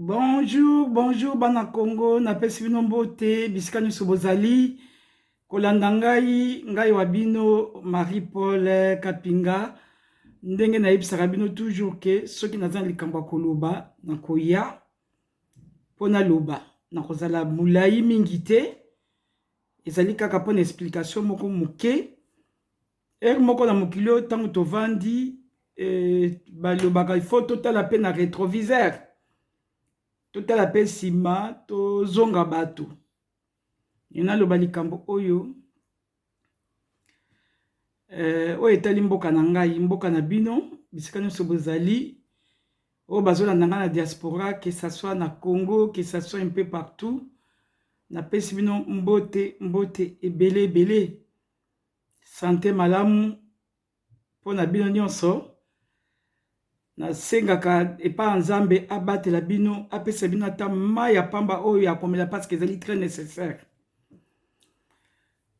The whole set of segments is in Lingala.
Bonjour, bonjour bana Congo, napesi bino mbote bisika nyonso bozali kolanda ngai ngai wa bino Marie Paul Kapinga ndenge nayebisaka bino toujours ke soki naza na likambo ya koloba nakoya mpo naloba nakozala molai mingi te ezali kaka mpo na explication moko moke Heure moko na mokili oyo ntango tovandi eh, balobaka il faut totala mpe na retroviseur totala mpe nsima tozonga bato enaloba likambo oyo eh, oyo etali mboka na ngai mboka na bino bisika nyonso bozali oyo bazolanda ngai na diaspora que ça soit na congo que ça soit un peu partout napesi bino mbote mbote ebele ebele Sante malamu mpo na bino nyonso. Nasengaka epai ya Nzambe abatela bino, apesa bino ata mai ya pamba oyo ya komela parceke ezali très nécessaire.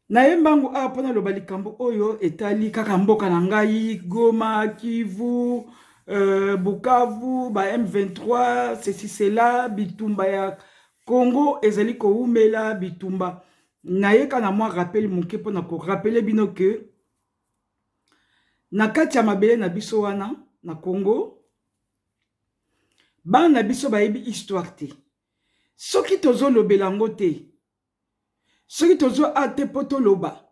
Naye mbangu awa mpo naloba likambo oyo etali kaka mboka na ngai Goma, Kivu, euh, Bukavu, ba M23, ceci cela, bitumba ya Congo ezali kowumela bitumba nayeka na mwa rappel moke mpo na korapele bino ke na kati ya mabele na biso wana na congo bana na biso bayebi histoire te soki tozolobela yango te soki tozo a te mpo toloba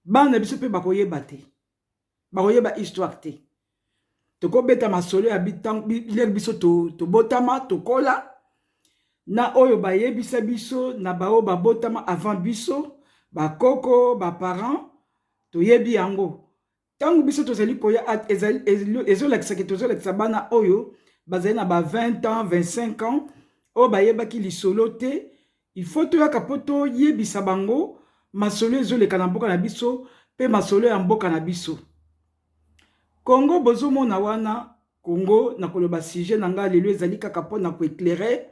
bana na biso mpe bakoyeba te bakoyeba histoire te tokobeta masolo ya lere biso tobotama tokola na oyo bayebisa biso na baoyo babotama avant biso bakoko baparent toyebi yango ntango biso tozali koya ezolakisaki tozolakisa bana oyo bazali na ba 20 ans 25 ans oyo bayebaki lisolo te Il faut toyaka po to yebisa bango masolo ezo leka na mboka na biso pe masolo ya mboka na biso. Congo bozo mona wana Congo na koloba sujet na nga lelo ezali kaka po na ko eclairer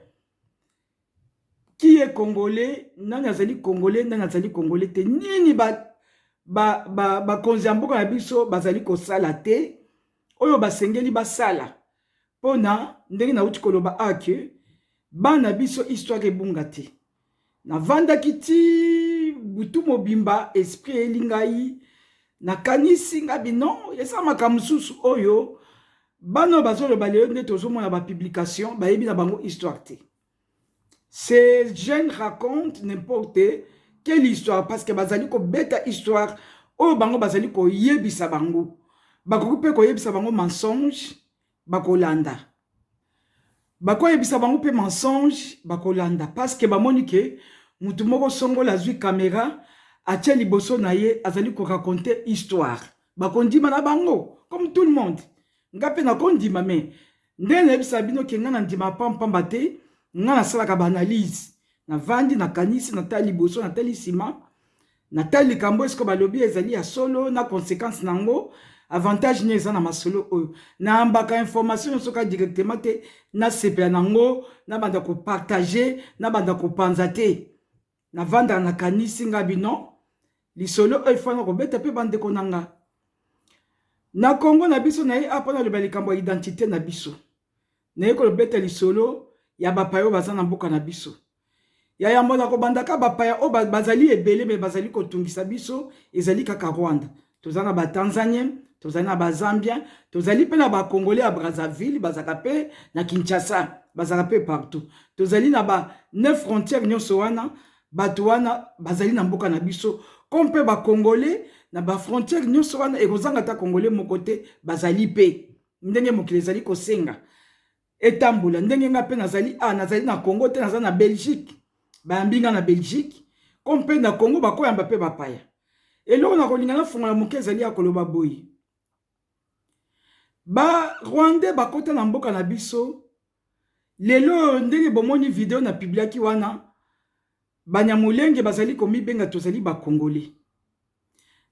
qui est congolais, nani azali congolais, nani azali congolais te. Nini ba ba ba bakonzi ya mboka na biso bazali kosala te oyo basengeli basala. Pona ndenge na wuti koloba awa que bana biso histoire ebunga te. Na vandaki ti butu mobimba esprit eyeli ngai na kanisi nga bi non eza makambo mususu oyo bana oyo bazoloba lelo nde tozomona ba publication bayebi na bango histoire te. Ce jeune raconte n'importe quelle histoire parce que bazali kobeta histoire oyo bango bazali koyebisa bango bakoki mpe koyebisa bango mensonge bakolanda bakoyebisa bango mpe mensonge bakolanda parce que bamoni ke motu moko songola azwi camera atie liboso na ye azali ko raconter histoire bakondima na bango comme tout le monde nga mpe nakondima mais Nde nayebisa bino ke nga na ndima pam pamba te nga nasalaka ba analyse navandi nakanisi natali liboso natali nsima natali likambo esiko balobi ezali ya solo na conséquence na yango avantage nini eza na masolo oyo nayambaka information nyonso kaka directement te nasepela na yango nabanda kopartage nabanda kopanza te na vanda na kanisi nga bino lisolo oyo efana kobeta mpe bandeko na nga na kongo na biso na ye apa naloba likambo ya identite na biso naye kolobeta lisolo ya bapaya oyo baza na mboka na biso ya yambo na kobandaka bapaya oyo bazali ebele me bazali kotungisa biso ezali kaka rwanda toza na batanzanien tozali na bazambien tozali mpe na bacongolais ya brazzaville bazalaka mpe na kinshasa bazalaka mpe partout tozali na ba ne frontière nyonso wana bato wana bazali na mboka na biso comme mpe bacongolais na bafrontière nyonso wana ekozanga ata congolais moko te bazali mpe ndenge mokili ezali kosenga etambola ndenge nga pe nazali a nazali na congo te naza na belgique bayambi nga na belgique comme pe na congo bakoyamba pe bapaya eloko na kolinga na fungola moke ezali ya koloba boye ba rwandais bakota na mboka na biso lelo oyo ndenge bomoni video na pibliaki wana banyamulenge bazali komibenga tozali bakongole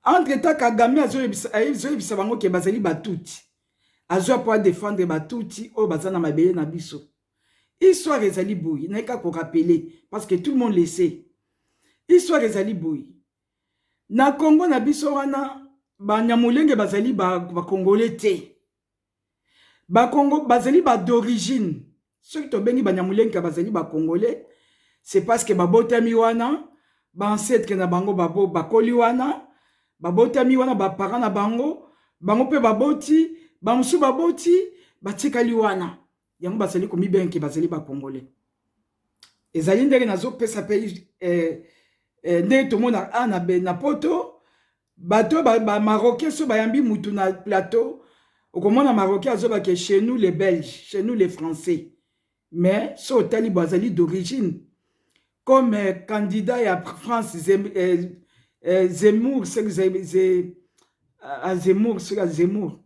Entre temps Kagame azoyebisa bango ke bazali batuti. Azwa po a defendre batuti oyo baza na mabele na biso. Histoire ezali boye, naye ka ko rappeler parce que tout le monde le sait. Histoire ezali boye. Na Congo na biso wana ba nyamulenge bazali ba congolais te. Bakongo bazali ba d'origine soki tobengi Banyamulenge bazali ba Congolais c'est parce que babotami wana ba ancetres na bango bakoli wana babotami wana ba parents na bango bango mpe baboti bamosusu baboti batikali wana yango bazali komibenga bazali ba Congolais ezali ndenge nazopesa mpe eh, eh, ndenge tomona a na poto Bato ba, ba marocain so bayambi mutu na plateau okomona marocain azoba ke chez nous les belges, chez nous les français. Mais so otali bo azali d'origine comme euh, candidat ya France Zem, euh, euh, Zemmour, Zemmour, ah, Zemmour, Zemmour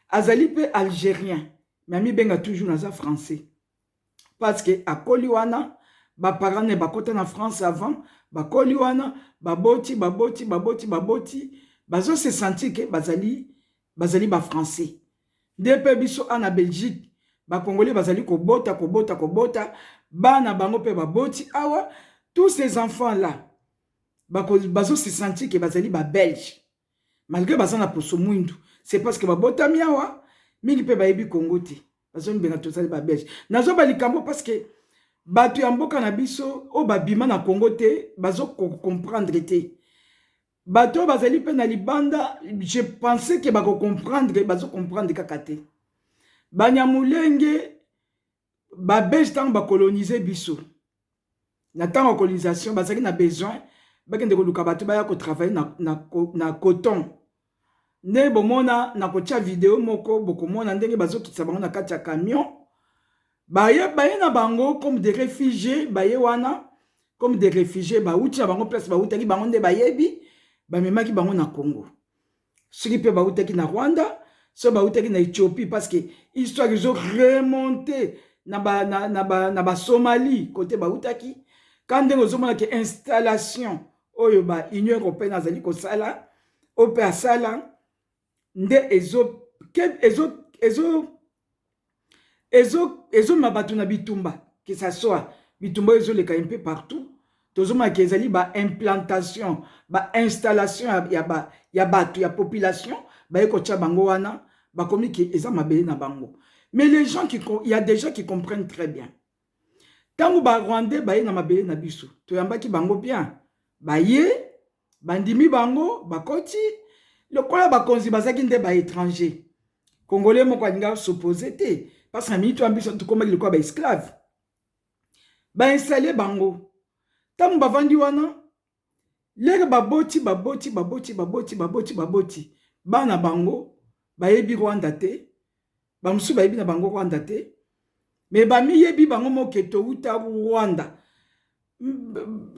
azali mpe algérien mais amibenga toujours naza français parce que akoli wana ba parents ne bakota na France avant bakoli wana baboti baboti baboti baboti bazo se sentir que bazali bazali ba français nde mpe biso ana Belgique ba congolais bazali kobota kobota kobota bana bango mpe baboti awa tous ces enfants là bazo se sentir que bazali ba belge malgre baza na poso mwindu c'est parce que babotami awa mingi mpe bayebi kongo te bazomibela tozali babelge nazwa balikambo parce que bato ya mboka na biso oyo babima na kongo te bazocomprendre te bato oyo bazali mpe na libanda je pensais ke bakocomprendre bazocomprendre kaka te banyamulenge ba belge ntango ba colonise biso na ntango ya colonisation bazalaki na besoin bakende koluka bato baya kotravaille na, na, na coton nde bomona na kotya video moko bokomona ndenge bazokitisa bango na kati ya camion baye, baye na bango comme des réfugiés baye wana comme des réfugiés bauti na bango place bautaki bango nde bayebi bamemaki bango na congo soki mpe bautaki na rwanda soki bautaki na ethiopie parce que histoire ezo remonte na basomali na, ba, na, ba kote bautaki ka ndenge ozomona ke installation oyo ba union européenne azali kosala oyo mpe asala nde ezo, ezo, ezo ezomema bato na bitumba que ça soit bitumba oyo ezoleka un peu partout tozomona ke ezali ba implantation ba installation ya, ba, ya bato ya population baye kotya bango wana bakomi ke eza mabele na bango mais les gens qui, il y a des gens qui comprennent très bien ntango barwandais baye na mabele na biso toyambaki bango bien baye bandimi bango bakoti lokola bakonzi bazaki nde ba étranger congolais moko alinga s'oppose te parce na minute wana biso tokomaki lokola ba esclave bainstalle bango ntango bavandi wana lere baboti baboti baboti baboti baboti baboti bana bango bayebi rwanda te ba musu bayebi na bango Rwanda te mais ba miyebi bango moke to uta Rwanda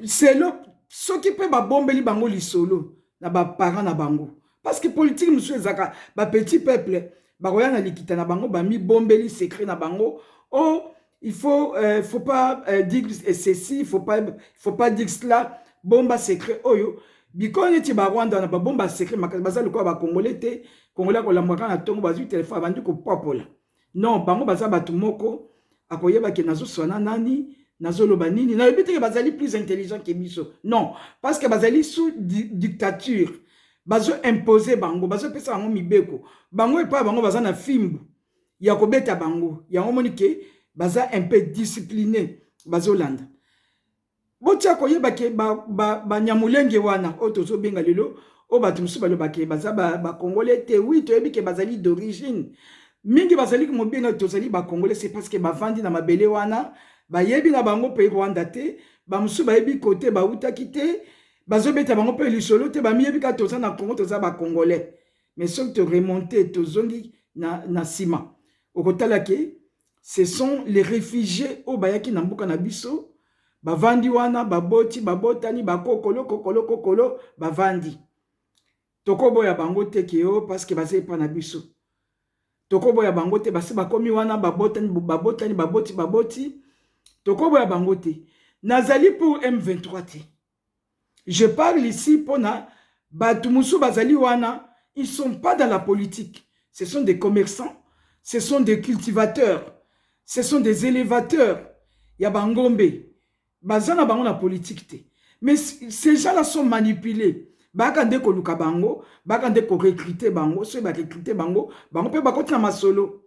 selo soki pe ba bombeli bango lisolo na ba parents na bango parce que politique musu ezaka ba petit peuple bakoya na likita na bango ba mi bombeli secret na bango o oh, il faut euh, il faut pas euh, dire ceci il faut pas il faut pas dire cela bomba secret oyo bikolo neti barwanda wana babomba secret makasi baza lokola bakongole te kongole akolambwa kaka na ntongo bazwi telefone abandi kopapola non bango baza bato moko akoyeba ke nazoswana nani nazoloba nini nayebi teke bazali plus intelligent ke biso non parce que bazali sous di dictature bazo impose bango bazopesa bango mibeko bango epai bango baza na fimbu ya kobeta bango yango omoni ke baza un peu discipline bazolanda botia koyeba ke banyamulenge ba, ba wana oyo tozobenga lelo oyo bato mosusu baloba ke baza bakongole ba te wi toyebi ke bazali d'origine mingi bazali mobenga tozali bakongole se parce que bavandi na mabele wana bayebi na bango mpe rwanda te bamosusu bayebi kote bautaki te bazobeta bango mpe lisolo te bamiyebi kaka toza na congo toza bakongole mais soki to remonte tozongi na, na nsima okotala ke ce sont les réfugiés oyo bayaki na mboka na biso bavandi wana baboti babotani bakokolo kokolo kokolo bavandi tokoboya bango te ke o oh, parceke baza epa na biso tokoboya bango te basi bakomi wana babotani babotani baboti baboti tokoboya bango te nazali pour m23 te Je parle ici pona batu mosusu bazali wana ils sont pas dans la politique ce sont des commerçants ce sont des cultivateurs ce sont des elevateurs ya ba ngombe baza na bango na politique te mais ces gens là sont manipules baka nde koluka bango baka nde ko recruter bango soki ba recruter bango bango pe bakoti na masolo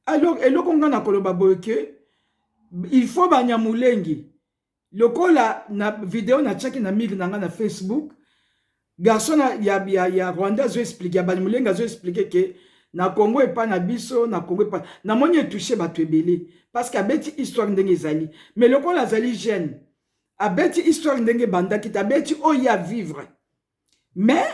alors eloko nga na koloba boye que il faut banyamulengi lokola na video na chaki na mire na nga na facebook garçon ya, ya, ya rwanda azo explike ya balimulenga azo explike ke na congo epa na biso na congo epa namoni etouche bato ebele parce que abeti histoire ndenge ezali mais lokola azali jeune abeti histoire ndenge ebandaki te abeti oyo ya vivre mais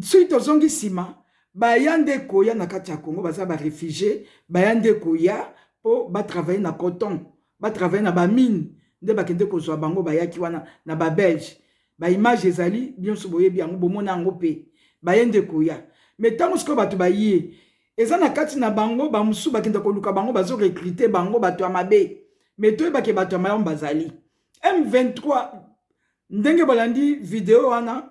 soki tozongi nsima baya nde koya na kati ya congo baza barefugie baya nde koya mpo batravaille na coton batravaille na bamine nde bakende kozwa bango bayaki wana na babelge baimage ezali nyonso boyebi yango bomona yango mpe baye nde koya me ntango sikoyo bato baye eza na kati na bango bamosusu bakenda koluka bango bazo recrute bango bato ya mabe me toyebake bato ya malamu bazali m23 ndenge balandi video wana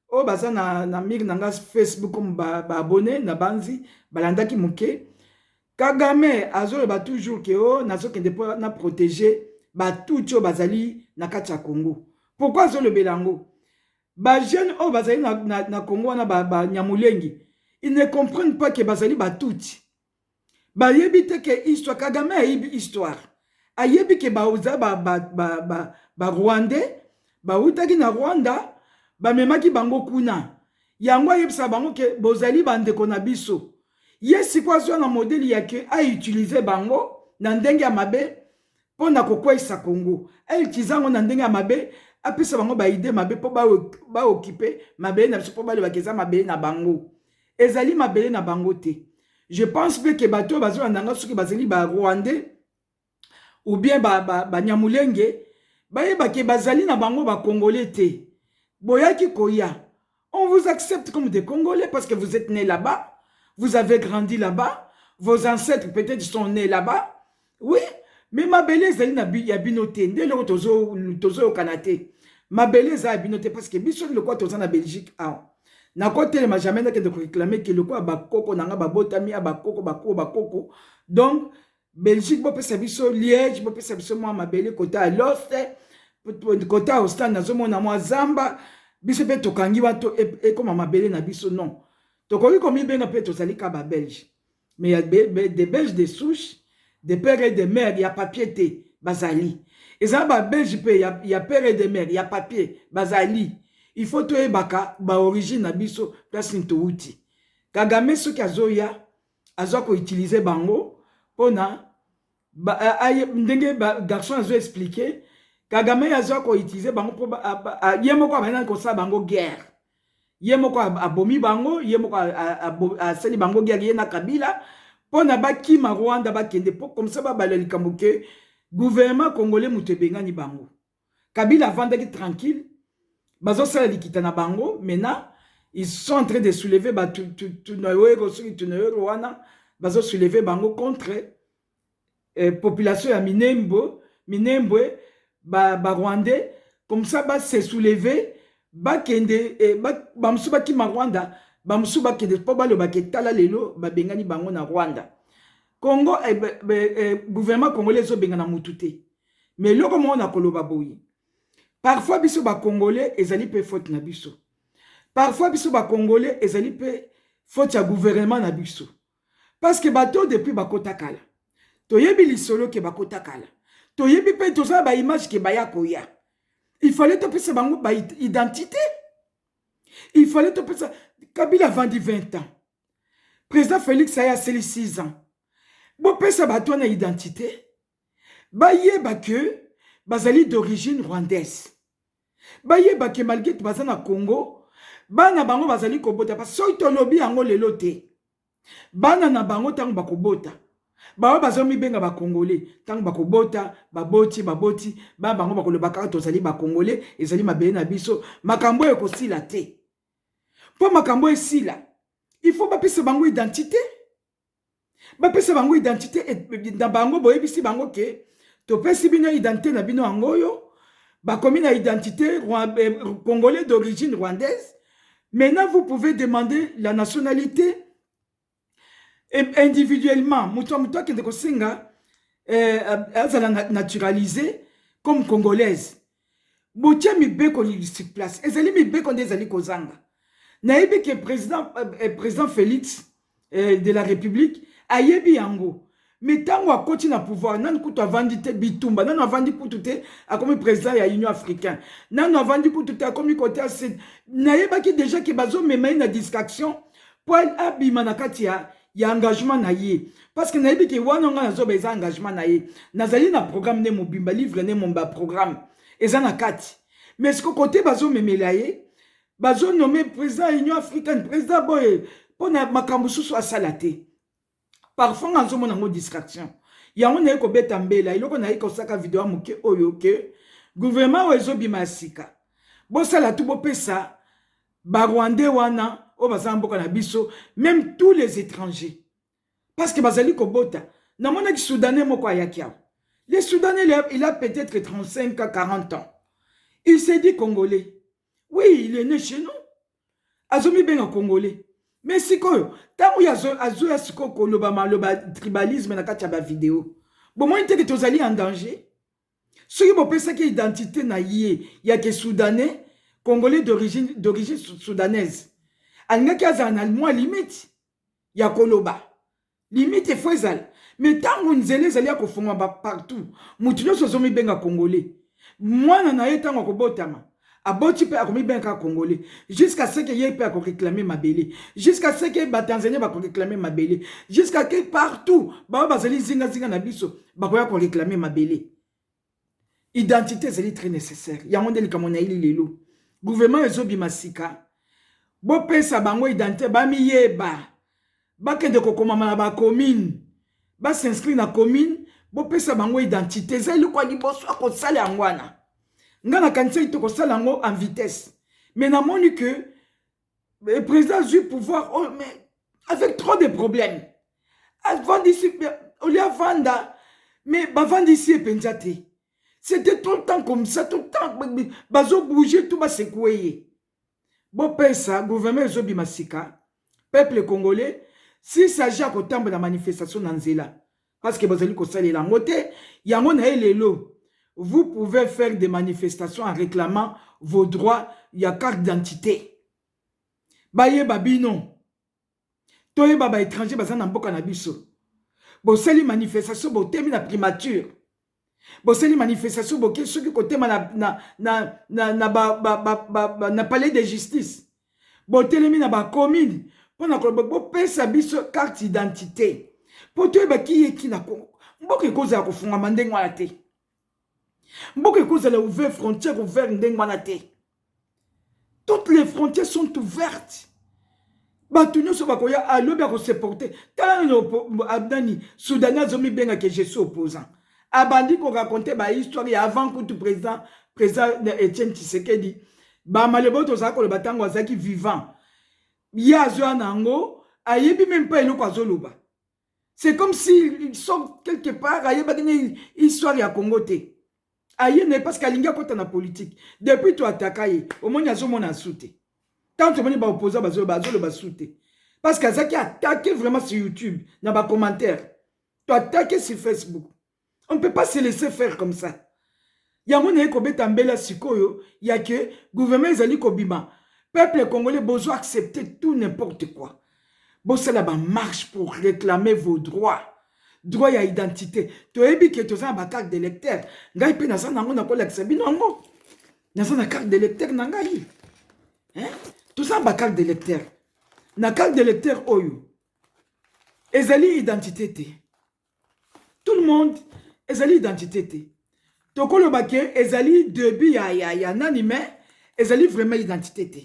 oyo baza na, na mire na nga facebook comme baabone ba nabanzi balandaki moke kagame azoloba toujours ke o oh, nazokende mpo na protege batuti oyo bazali na kati ya congo pourkui azolobela yango bajeune oyo bazali na, na, na congo wana banyamolengi ba, ba ils ne comprennent pas ke bazali batuti bayebi te ke histoire kagame ayebi histoire ayebi ke baza ba, ba, ba, ba, ba rwandais bawutaki na rwanda bamemaki bango kuna yango ayebisa bango ke bozali bandeko na biso ye sikoyo azwa na modeli ya ke autilize bango na ndenge ya mabe mpo na kokweisa congo autilize yango na ndenge ya mabe apesa bango baide mabe mpo baokipe mabele na biso mpo balobaka eza mabele na bango ezali mabele na bango te je pense mpe ke bato oyo bazolanda nga soki bazali barwandais ou bien banyamulenge ba, ba bayebake bazali na bango bakongole te boyaki koya on vous accepte comme des congolais parce que vous êtes né là-bas vous avez grandi là-bas vos ancêtres peut-être sont nés là-bas oui me mabele ezali na ya bino te nde eloko tozoyokana tozo te mabele eza ya bino te parce que biso lokola toza na belgique awa nakotelema jamais nakende koreklame ke lokola bakoko na ngai babotami ya bakoko bakoko bakoko donc belgique bopesa biso liège bopesa biso mwa mabele kota ya loste kota ya ostane nazomona mwa zamba biso mpe tokangi bato e, ekoma mabele na biso non tokoki komibenga mpe tozali ka babelge mais ya de belge de souche de père et de mère ya papier te bazali eza ba belge mpe ya, ya père et de mère ya papier bazali il faut toyebaka ba origine na biso place nini towuti kagame soki azoya aza koutilize bango mpona ba, aye, ndenge ba, garçon azo explique kagame ye aza koutilize bango mpo ye moko abandaki kosala bango guerre ye moko abomi bango ye moko asali bango guerre ye na kabila mpo na bakima rwanda bakende mpo komisa babala likambo ke gouvernement congolais moto ebengani bango Kabila avandaki tranquille bazosala likita na bango maintenant ils sont en train de soulever ba tunoyero soki tunoyero wana bazo soulever bango contre eh, population ya minembo minembwe ba, ba rwandais comme ça ba se soulever bakende eh, ba, bamosusu bakima rwanda bamosusu bakende mpo balobaka etala lelo babengani bango na rwanda congo eh, eh, gouvernement congolais ezobengana motu te mais eloko moko na koloba boye parfois biso ba congolais ezali pe faute na biso parfois biso ba congolais ezali pe faute ya gouvernement na biso parce que bato depuis bakota kala toyebi lisolo ke bakota kala toyebi pe toza na ba image ke baya koya il fallait topesa bango ba identité il fallait topesa kabila avandi 20 ans président félix aye aseli 6 ans bopesa bato wana identité bayeba ke bazali d'origine rwandaise bayeba ke malgre baza na congo bana bango bazali kobota pa soki tolobi yango lelo te bana na bango ntango bakobota baoyo bazomibenga bakongole ntango bakobota baboti baboti bana bango bakoloba kaka tozali bakongole ezali mabele na biso makambo oyo ekosila te mpo makambo esila il faut bapesa bango identite bapesa bango identité na bango boyebisi bango ke topesi bino identité na bino yango oyo bakomi na identité eh, congolais d'origine rwandaise maintenant vous pouvez demander la nationalité individuellement moto ya moto akende kosenga eh, azala naturalise comme congolaise botie mibeko sur place ezali mibeko nde ezali kozanga nayebi ke président, euh, euh, président félix euh, de la république ayebi yango me ntango akoti na pouvoir nanu kutu avandi te bitumba nanu avandi kutu te akomi président ya union africain nanu avandi kutu te akomi kote ya sud nayebaki déjà ke bazomema ye na distraction mpo abima na kati ya ya engagement na ye parce que nayebi ke wana ngai nazoba eza engagement na ye nazali na programme nde mobimba livre nde momba programme eza na kati mais siko kote bazomemela ye bazonome président ya union africaine président boye mpo na makambo susu asala te parfois nga nazomona yango distraction yango naye kobeta mbela eloko naye kosaka video ya moke oyo ke gouvernement oyo ezobima ya sika bosala tu bopesa ba rwandais wana oyo baza na mboka na biso meme tous les étrangers parce que bazali kobota namonaki soudanais moko ayaki awa le soudanais il a peut-être 35 à 40 ans il s'est dit congolais oui il est né chez nous azomibenga congolais mais sikoyo ntango oyo azoya sikoyo koloba maloba tribalisme na kati ya bavideo bomoni teke tozali en danger soki bopesaki identite na ye ya ke soudanais congolais d'origine d'origine soudanaise alingaki azala na mwa limite ya koloba limite efo ezala me ntango nzela ezali ya kofungwama partout moto nyonso azomibenga congolais mwana na ye ntango akobotama aboti mpe akomibenga kaka congolais jusqu'à ce que ye mpe akoreclame mabele jusqu'à ce que batanzanie bakoreclame mabele jusqu'à que partout baoyo bazali zingazinga na biso bakoya koreclame mabele identité ezali très nécessaire yango nde likambo na yeli lelo gouvernement ezobima sika bopesa bango identité bamiyeba bakende kokomama na bacommune basinscrit na commune bopesa bango identité eza eloko ya liboso ya kosala yango wana ngai nakanisaki tokosala yango en vitesse mais namoni que eh, président azwi pouvoir oh, mais avec trop de problème avandisi olie avanda mais bavandisi ye mpenza te c'était tout le temps comme ça tout le temps bazobouge tout basekue ye bopesa gouvernement ezobima sika peuple congolais si s'agit ya kotambola manifestation na nzela parce que bozali kosalela yango te yango na ye lelo vous pouvez faire des manifestations en réclamant vos droits ya carte d'identité bayeba bino toyeba ba étranger baza na mboka na biso bosali manifestation botemi na primature bosali manifestation boke soki kotema na, na, na, na, na, ba, ba, ba, ba, ba, na palais de justice botelemi na bacommune mpo na koloba bopesa biso carte identité mpo toyeba kiyeki na kongo mboka ekozala kofungama ndenge wana te mboka ekozala ouvert frontière ouvert ndenge wana te toutes les frontières sont ouvertes bato nyonso bakoya alobi akoseporte tala nani soudani azomibenga ke je suis opposant abandi koraconte bahistoire ya avant kutu président président etienne tshisekedi bamalebo tozala koloba ntango azalaki vivant ye azoya na yango ayebi meme mpa eloko azoloba c'est comme si il sort quelque part ayebaki ne histoire ya congo te aye na ye parce que alingi akota na politique depuis to ataka ye omoni azomona asu te tant omoni baopposant bazoloba azoloba su te parce que azalaki atake vraiment sur youtube na bacommentaire to atake sur facebook on ne peut pas se laisser faire comme ça yango naye kobeta mbela sikoyo ya ke gouvernement ezali kobima peuple congolais bozo accepter tout n'importe quoi bosala bamarche pour réclamer vos droits droit ya identité toyebi ke toza na bacarte de lecteur ngai mpe naza na yango nakolakisa bino yango naza na carte de lecteur na ngai toza na bacarte de lecteur na carte de lecteur oyo ezali identité te tout le monde ezali identité te tokoloba ke ezali debut ya, ya, ya nani mais ezali vraiment identité te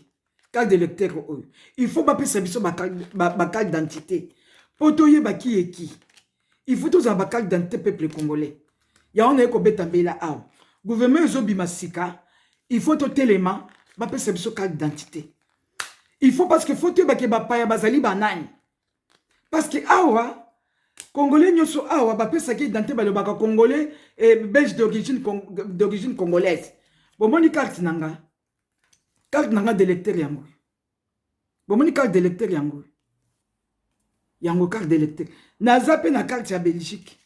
carte de lecteur oyo il faut bapesa biso bacarte d'identité mpo toyeba ki eki il faut tozala bacarte d'identité peuple congolais yango naye kobeta mbela awa gouvernement ezobima sika il faut totelema bapesa biso carte d'identité il faut parce que faut toyeba ke bapaya bazali banani parce que awa congolais nyonso awa bapesaki identité balobaka congolais eh, belge d'origine congolaise bomoni carte na nga carte na nga d'électeur yango bomoni carte d'électeur yango yango carte d'électeur naza mpe na carte ya belgique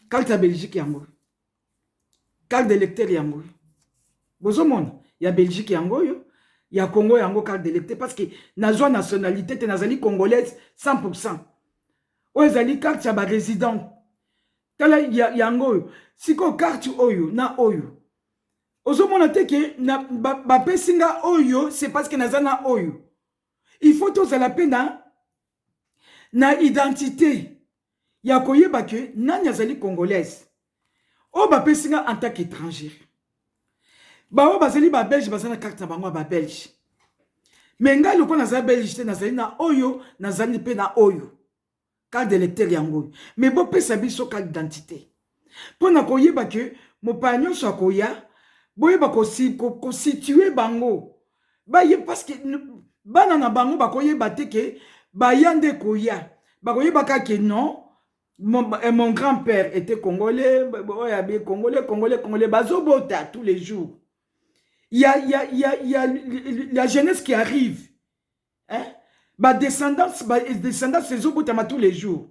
carte ya belgique yango carte d'electeur yango oyo bozomona ya belgique yango oyo ya congo yango carte d'electeur parce que nazwa nationalité te nazali congolaise 100 pourcent oyo ezali carte ya barésident tala yango oyo sikoyo carte oyo na oyo ozomona te ke bapesi ba nga oyo c'est parce que naza na oyo il faut tozala mpe na na identite ya koyeba ke nani azali congolaise oyo bapesi nga en tant qu'etranger baoyo bazali babelge baza na karte na bango ya babelge me ngai lokola nazali belge te nazali na oyo nazali mpe na oyo carte de lecteur yango oyo me bopesa biso carte d'identité mpo na koyeba ke mopaya nyonso akoya boyeba kositue bango baye parceke bana na bango bakoyeba te ke baya nde koya bakoyeba kaka ke non mon, eh, mon grand père était congolais oyo abe congolais congolais congolais bazobota tous les jours ya ya ya ya la jeunesse qui arrive eh? badescendance badescendance ezobotama tous les jours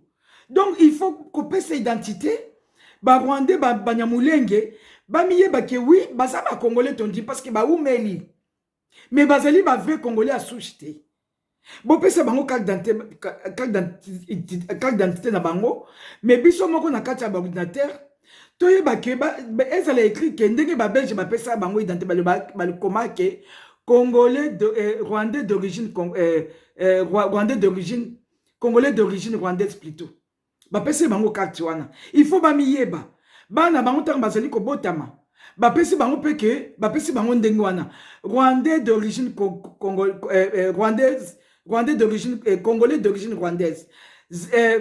donc il faut kopesa identité barwandais banyamulenge bamiyeba ke wi baza bacongolais tondi parce que baumeli mais bazali bavrai congolais ya souche te bopesa bango carte d'identité na bango mais biso moko na kati ya baordinatere toyeba ke ezala écrit ke ndenge babelge bapesa bango identité balokoma ke congolais de, eh, rwandais d'origine eh, eh, rwandais d'origine congolais d'origine rwandaise plutôt bapesi bango karte wana il faut bamiyeba bana bango ntango bazali kobotama bapesi bango mpe ke bapesi bango ndenge wana rwandais d'origine eh, eh, rwandaise rwandais d'origine eh, congolais d'origine rwandaise eh,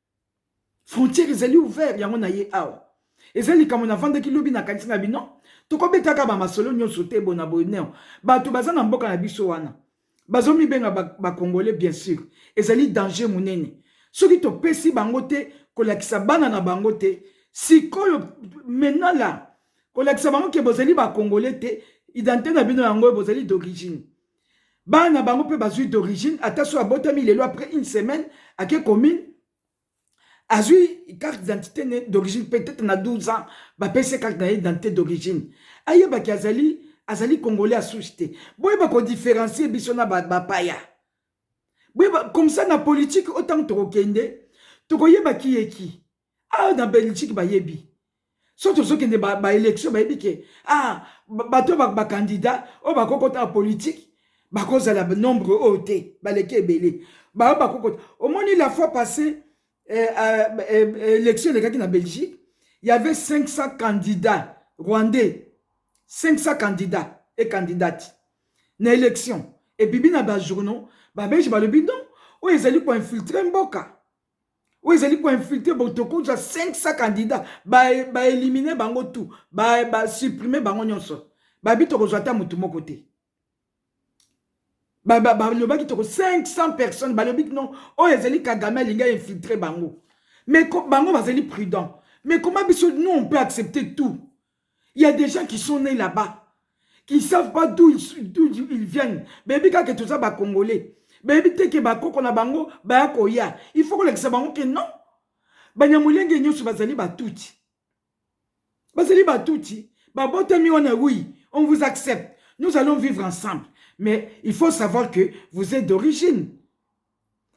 frontière ezali ouvert yango na ye awa eza likambo nafandaki lobi nakanisi na bino tokobetaka bamasolo nyonso te bona boye neo bato baza na mboka na biso wana bazomibenga bakongole ba bien sûr ezali danger monene soki topesi bango te kolakisa bana na bango te sikoyo menala kolakisa bango ke bozali bakongole te identité na bino yango bozali d'origine bana bango mpe bazwi d'origine ata so abotami lelo après une semaine ake commune azwi carte d'identité ne d'origine peut-être na 12 ans bapesi ye carte na ye d'identité d'origine ayebaki azali azali congolais ya souche te boyeba kodifferencie biso na bapaya ba boyeba comme ça na politike oyo ntango tokokende tokoyeba kiyeki awa na belgique bayebi so tozokende baélection ba bayebi ke ah, bato oyo bakandida oyo bakokota na politike bakozala nombre oyo te baleki ebele bayo bakokota omoni la fois passé eh, euh, eh, eh, élection elekaki na belgique y avait 500 candidats rwandais 500 candidats et candidates na élection ebibi na bajournaux babelge balobi non oyo ezali koinfiltre mboka oyo ezali koinfiltre botokozi ya 500 candidat baelimine ba bango tout basupprime ba bango nyonso babi tokozwa ata motu moko te balobaki ba, ba, toko 500 personnes balobi non oyo ezali kagame alingi ainfiltre bango mais bango bazali prudent mais koma biso nous on peut accepter tout Il y a des gens qui sont nés là-bas, qui ne savent pas d'où ils, d'où ils viennent. Baby kaka toza ba congolais. Baby te ke ba koko na bango baya koya. Il faut kolakisa bango ke non. Banyamulenge nyoso bazali batuti. Bazali batuti. Babotami wana oui, on vous accepte. Nous allons vivre ensemble. Mais il faut savoir que vous êtes d'origine.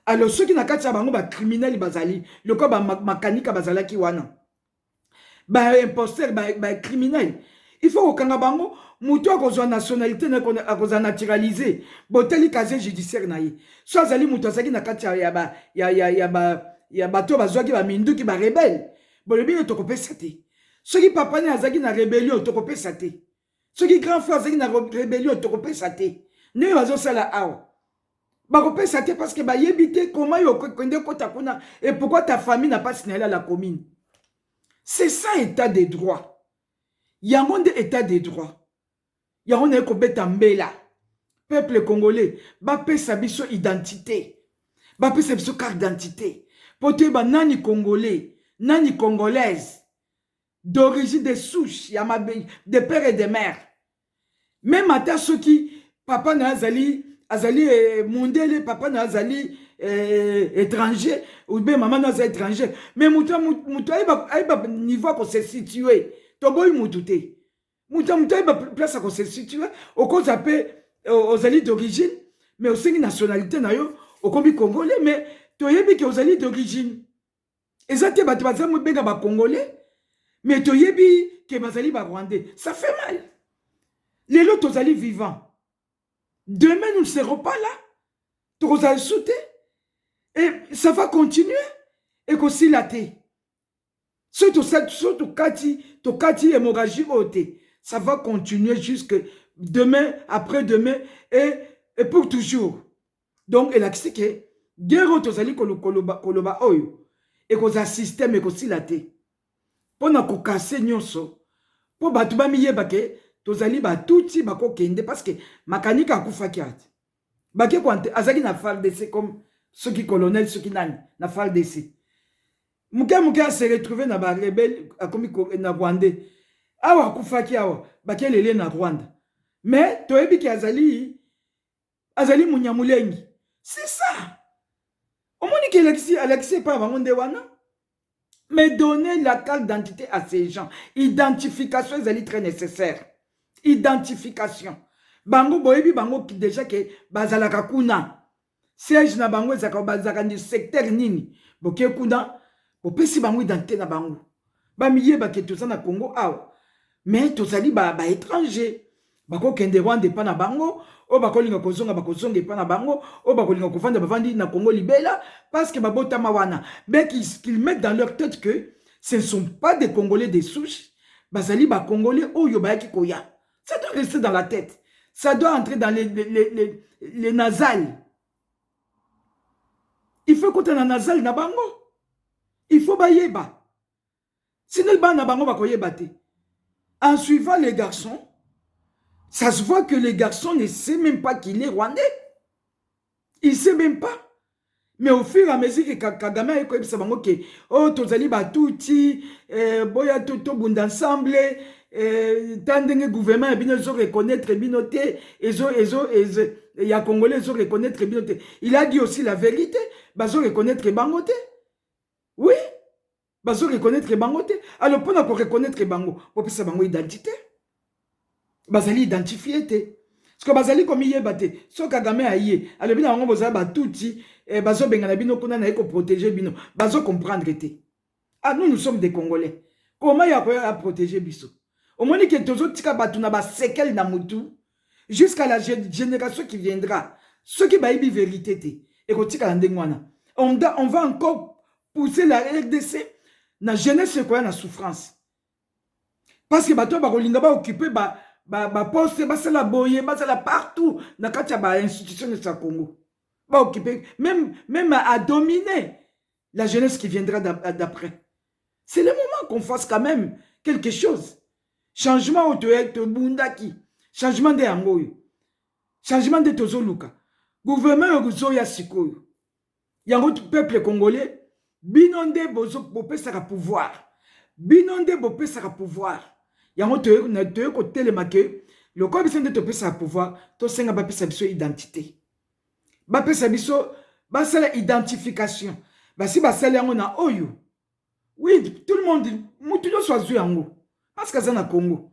Alors ceux qui na kati ya bango ba criminels bazali, lokola ba makanika bazalaki wana. ba imposteur ba, ba criminel il faut kokanga bango moto akozwa nationalité na akozala naturalise botali casier judiciaire na ye so azali moto azalaki na kati ya ba ya ya ya ba ya bato bazwaki baminduki barebele bolobi nde tokopesa te soki papa nini azalaki na rebellion tokopesa te soki grand frère azalaki na rebellion tokopesa te ndenge bazosala awa bakopesa te parce que bayebi te koma yo kende kota kuna et pourquoi ta famille na pasi na yela la commune c'est ça état de droit yango nde état de droit yango naye kobeta mbela peuple congolais bapesa biso identité bapesa biso carte d'identité mpo toyeba nani congolais nani congolaise d'origine de souche ya mabe de père et de mère meme ata soki papa na azali azali eh, mondele papa na azali eh, étranger oube mama na aza étranger mais moto moto ayeba ayeba niveau ya kose situe toboyi moto te moto moto ayeba place ya kose situe okozwa mpe ozali d'origine mais osengi nationalité na yo okomi congolais mais toyebi ke ozali d'origine eza te bato baza mobenga ba congolais mais toyebi ke bazali ba rwandais ça fait mal lelo tozali vivant demain nous ne serons pas là tokozala lisu te et ça va continuer ekosila te soki tosali so tokati tokati hémorragie oyo te ça va continuer jusque demain après demain et, et pour toujours donc elakisi ke guerre oyo tozali koloba, koloba oyo ekozala systeme ekosila te mpo na kokase nyonso mpo bato bamiyeba ke tozali batutsi bakokende parce que makanika akufaki ati bake kwante azalaki na fardc comme soki colonel soki nani na fardc moke moke ase retrouve na barebele akomi na rwandais awa akufaki awa bakelele na rwanda mais toyebi ke azali azali munyamulengi c'est ça omoni ke alakisi alakisi epai ya bango nde wana mais donner la carte d'identité à ces gens identification ezali très nécessaire identification bango boyebi bango déjà ke bazalaka kuna siège na bango ezalaka bazalaka ndi secteur nini boke kuna bopesi bango identité na bango bamiyeba ke toza na congo awa mais tozali baétranger ba bakokende Rwanda epa na bango oyo bakolinga kozonga bakozonga epa na bango oyo bakolinga kovanda bavandi na Congo libela parce que babotama wana mais qu'ils mettent dans leur tête que ce ne sont pas des Congolais des souches bazali ba Congolais oyo bayaki koya ça doit rester dans la tête ça doit entrer dans les, les, les, les, les nasales il faut ekota na nasale na bango il faut bayeba Sinon bana bango bakoyeba te. En suivant les garçons, ça se voit que les garçons ne sait même pas qu'il est rwandais. Il sait même pas. Mais au fur et à mesure que Kagame a écouté ça, bango que oh tozali batuti, eh, boya to to bunda ensemble, eh, tandenge gouvernement ya bino zo reconnaître bino te, ezo ezo ezo ya congolais zo reconnaître bino te. Il a dit aussi la vérité, bazo reconnaître bango te. Oui, bazo reconnaître bango te alors mpona ko reconnaître bango bopesa bango identité bazali identifie te siko bazali komiyeba te so kagame aye alobi na bango bozala batuti eh, bazobengana bino kuna naye koprotege bino bazo comprendre te ah nous nous sommes des congolais koma ya koya aprotege biso omoni ke tozotika bato na basekele na motu jusqu'à la génération qui viendra soki bayebi verité te ekotikala ndenge wana on va encore pousser la rdc na jeunesse ekoya na souffrance parce que bato oyo bakolinga baoccupe ba, ba, ba poste basala boye basala partout na kati ya bainstitution nyonso ya congo baoccupe même, même à dominer la jeunesse qui viendra d'après c'est le moment qu'on fasse quand même quelque chose changement oyo tobundaki changement nde yango oyo changement nde tozoluka gouvernement oyo kozoya sikoyo yango peuple congolais bino nde bopesaka pouvoir bino nde bopesaka pouvoir yango toye kotelema ke lokola biso nde topesaka pouvoir tosenga bapesa biso identité bapesa biso basala identification basi basali yango na oyo oui tout le monde mutu nyonso azwi yango parce que aza na congo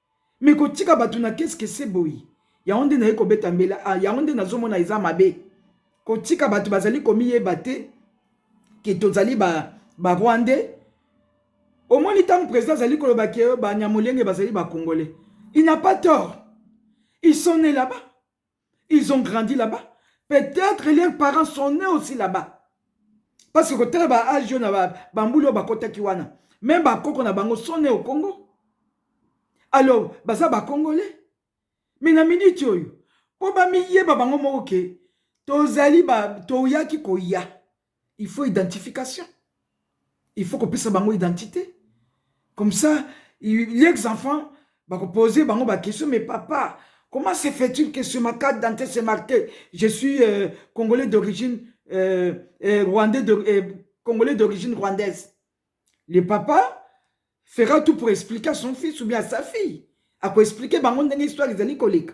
Mais kotika batu na kess kesse boye yango nde naye kobeta mbela ah yango nde nazo mona eza mabe kotika batu bazali komiyeba te ke tozali ba ba rwandais omoni tango president azali koloba ke banyamulenge bazali ba congolais il n'a pas tort ils sont ne là-bas ils ont grandi là-bas peut-être leurs parents sont nés aussi là-bas parce que kotala ba age oyo na bambula oyo bakotaki wana meme bakoko na bango sont nés au congo alors baza bacongolais mais na minute oyo mpo bamiyeba bango moko ke tozali toyaki koya il faut identification il faut kopesa bango identité comme ça les enfants bakoposer bango baquestion mais papa comment se fait-il que sur ma carte dante c'est marqué je suis euh, congolais d'origine euh, euh, rwandais de, euh, congolais d'origine rwandaise le papa fera tout pour expliquer à son fils ou bien à sa fille akoexplike bango ndenge histoire ezali koleka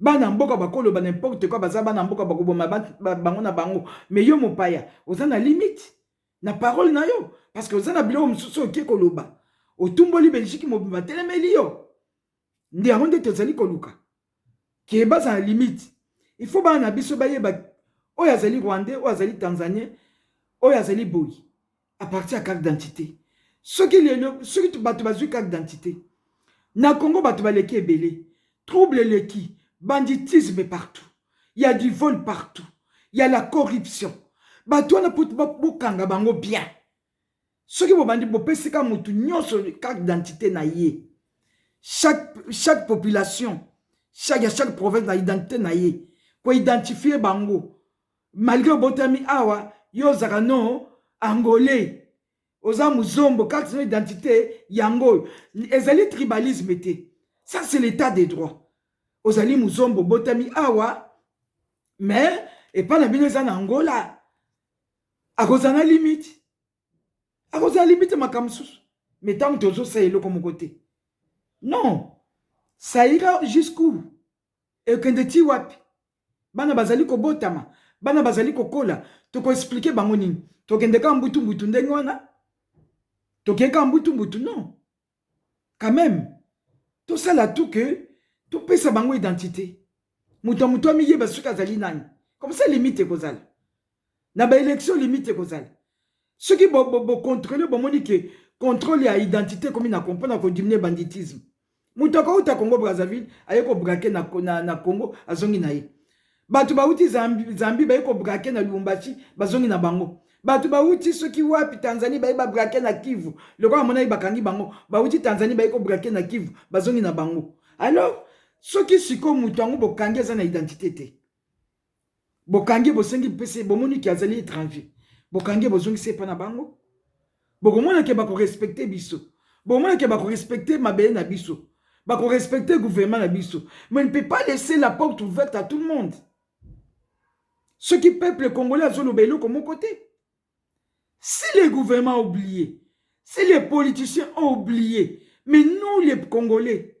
Bana mboka bako loba n'importe quoi baza bana mboka bako boma bango na bango mais yo mopaya oza na limite na parole na yo parce que oza na biloko mosusu oke koloba otumboli Belgique mobimba telemeli yo nde yango nde tozali koluka ke baza na limite il faut bana na biso bayeba oyo azali rwandais oyo azali tanzanien oyo azali boyi à partir ya carte d'identité soki lelo soki bato bazwi carte d'identité na congo bato baleki ebele trouble eleki banditisme partout ya du vol partout ya la corruption bato wana po bokanga bango bien soki bobandi bopesi ka motu nyonso carte d'identité na ye chaque, chaque population chaque, ya chaque province na identité na ye koidentifie bango malgre obotami awa yo ozaka no angolais oza muzombo carte no identité yango oyo ezali tribalisme te ça c'est l'état de droit ozali muzombo obotami awa mais epai na bino eza na angola akozala na limite akozala limite makambo mosusu mais ntango tozosala eloko moko te non saira jusqu'où ekende ti wapi bana bazali kobotama bana bazali kokola toko expliquer bango nini tokende kaka mbutu mbutu ndenge wana tokei kaka mbutu mbutu non quand même tosala tout que topesa bango identité moto ya moto amiyeba soki azali nani comme ça limite ekozala na ba election limite ekozala soki bocontrole bo, bo bomoni ke controle ya identité ekomi na mpo na kodiminue banditisme moto akouta congo brazzaville aye kobrake na, na, na congo azongi na ye bato bauti zambi, zambi baye kobrake na lubumbashi bazongi na bango bato bauti soki wapi tanzanie baye babrake na kivu lokola monaki bakangi bango bauti tanzanie baye kobrake na kivu bazongi na bango alors soki sikoyo moto yango bokangi aza na identité te bokangi bosengi mpese bomoni ke azali étranger bokangi bozongisi epa na bango bokomona ke bakorespecte biso bokomona ke bakorespecte mabele na biso bakorespecte gouvernement na biso mais ne peut pas laisser la porte ouverte à tout le monde soki peuple congolais azoloba eloko moko te si les gouvernements oublié si les politiciens ont oublié mais nous les congolais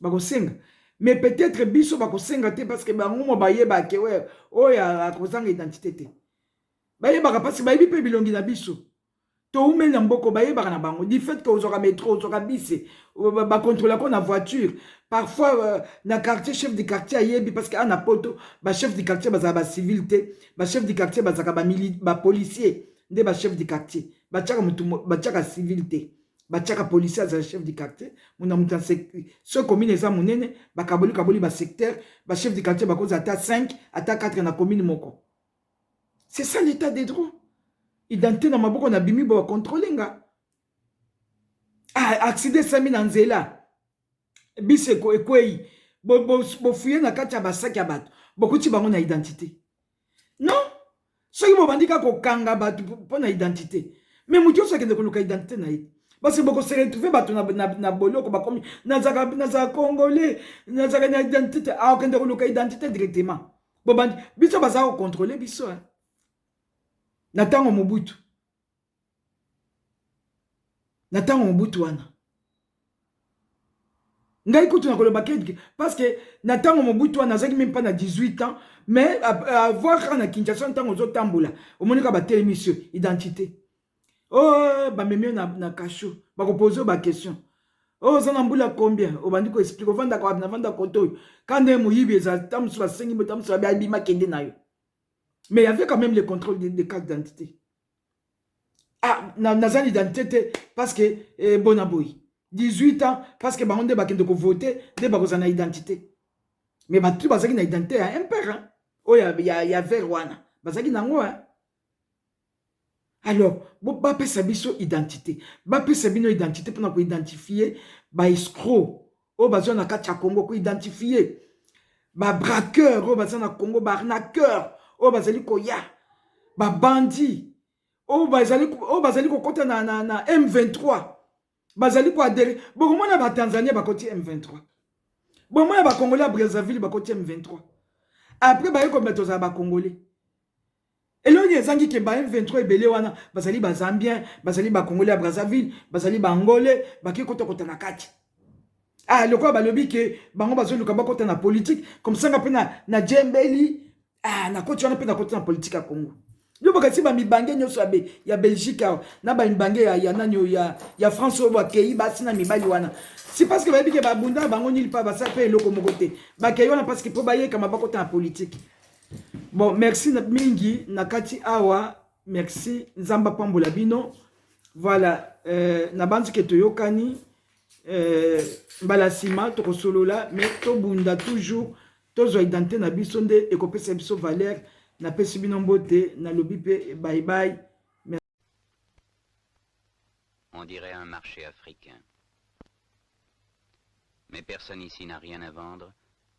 bakosenga mais peut-être biso bakosenga te parce que bango mo bayeba ke oyo oh, akozanga identité te bayebaka parce que bayebi mpe bilongi na biso toumeli na mboko bayebaka na bango du fait ke ozwaka metro ozwaka bise bakontrola ko na voiture parfois euh, na quartier chef du quartier ayebi parce que ana poto bachef du quartier bazala bacivil te bachef du quartier bazalaka bapolicier nde bachef du quartier batiaka civil te batiaka policier azala chef du quartier muna moto ya soki commune eza monene bakaboli kaboli basecteur bachef du quartier bakozala ata 5 ata 4 na commune moko c'est ça l'état de droit identité na maboko na bimi bacontrole nga ah, accident esami na nzela bisi ekwei bofuye na kati ya basaki ya bato bokuti bango na identité non soki bobandi kaka kokanga bato mpo na identité me moto nyonso akende koluka identité na ye parce bokose retrouve bato na boloko bakomi nazala congolais nazala na identité akokende koluka identité directement bobandi biso baza kocontrole biso na ntango mobutu na ntango mobutu wana ngai kutu na koloba ke parce que na ntango mobutu wana nazalaki meme mpa na 18 ans mais avoir kaka na kinshasa ntango ozotambola omoni kaka batelemi sur identité o oh, bamemi yo na, na kasho bakopoze yo baquestion o oh, oza na mbula combien obandi koexplike ovandaka wapi navanda koto oyo ka nde moyibi eza ta mosusu basengi botamosusu babi abima kende na yo mais y avait quand même le contrôle de, de carte d'identité ah naza na identité te parce que eh, bona boye 18 ans parce que bango nde bakende kovote nde bakozala na identité mais bato bazalaki na identité ya impere hein? oyo oh, ya, ya, ya vere wana bazalaki na yango hein? alors bapesa biso identité bapesa bino identité mpona koidentifie baescro oyo baza na kati ya Congo ko identifier ba braqueurs oyo baza na Congo ba arnaqueurs oyo bazali koya ba bandits oyo bazali oyo bazali kokota na, na, na M23 bazali koadere bokomona ba Tanzania bakoti M23 bomona ba Congolais ya Brazzaville bakoti M23 après baye komela tozala ba Congolais Elongi ezangi ke ba M23 ebele wana bazali ba Zambien, bazali ba Congolais ya Brazzaville, bazali ba Angolais, baki kota kota na kati. Ah, lokola balobi ke bango bazoluka bakota na politique, comme ça nga pe na na djembeli, ah na koti wana pe na kota na politique ya Congo. Yo bakati ba mibange nyoso ya, be, ya Belgique awa, na ba mibange ya, ya nani oyo ya, ya France oyo bakei basi na mibali wana. Si parce que bayebi ke babunda bango nil pa basala pe eloko moko te. Bakei wana parce que po bayekama bakota na politique. Bon, merci mingi na kati awa. Merci Nzamba pambola bino. Voilà, euh, na banzi ke toyokani euh, mbala sima tokosolola mais tobunda toujours tozwa identité na biso nde ekopesa biso valeur napesi bino mbote nalobi mpe bye bye On dirait un marché africain. Mais personne ici n'a rien à vendre